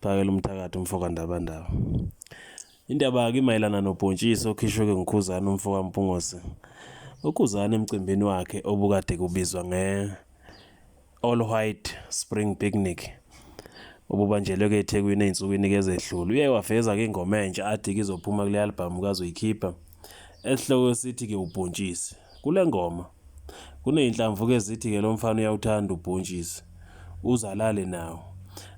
Phakela umthakathi umfoka Ndabandaba. Indaba ke mayelana nobhontshisi okhishwe ke nguKhuzani umfoka Mpungose. UKhuzani emcimbini wakhe obukade kubizwa nge All White Spring Picnic obubanjelwe ke eThekwini ezinsukwini ke ezedlule. Uye waveza ke ingoma entsha athi kizophuma kule album kazoyikhipha. Esihloko sithi ke ubhontshisi. Kule ngoma kuney'nhlamvu ke zithi ke lo mfana uyawuthanda ubhontshisi uze alale nawo.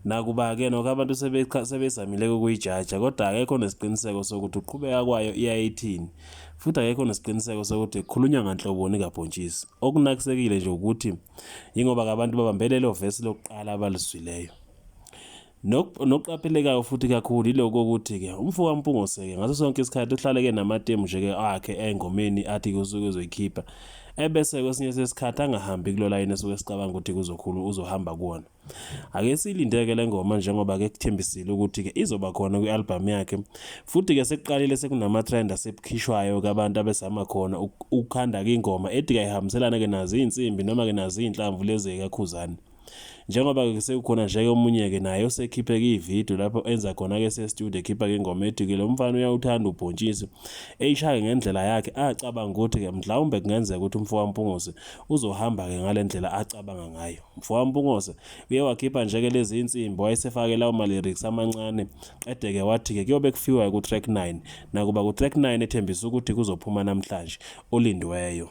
Nakuba ke nokho abantu sebezamile ukuyijaja kodwa akekho nesiqiniseko sokuthi ukuqhubeka kwayo iyaye ithini futhi akekho nesiqiniseko sokuthi kukhulunywa nganhloboni kabhontshisi. Okunakisekile nje ukuthi yingoba ke abantu babambelele ovesi lokuqala abalizwileyo. Nokuqaphelekayo futhi kakhulu yiloko ukuthi-ke umfo kaMpungose-ke ngaso sonke isikhathi uhlaleke namatemu nje-ke akhe engomeni athi-ke usuke ezoyikhipha ebese kwesinye sesikhathi angahambi kulo layini esuke sicabanga ukuthi kuzokhulu uzohamba kuwona ake silindeke le ngoma njengoba-ke kuthembisile ukuthi-ke izoba khona kwi-albhamu yakhe futhi-ke sekuqalile sekunama-trend asebukhishwayo-ke abantu abezama khona ukukhanda-ke ingoma ethi kayihambiselane-ke nazo iy'nsimbi noma-ke nazo iy'nhlamvu lezi-ke kakhuzane njengoba-ke sekukhona nje-ke omunye-ke naye osekhiphe-ke ividiyo lapho enza khona-ke sestudio ekhipha-ke ingoma ethi-ke lo mfana uyawuthanda ubhontshisi eyishaye ngendlela yakhe acabanga ukuthi-ke mhlawumbe kungenzeka ukuthi umfowampungose uzohamba-ke ngale ndlela acabanga ngayo umfowampungose uye wakhipha nje-ke lezi insimbi wayesefake lawo ma-lyrics amancane qede-ke wathi-ke kuyobe kufiwa ku-track 9 nakuba ku-track 9 ethembisa ukuthi kuzophuma namhlanje olindiweyo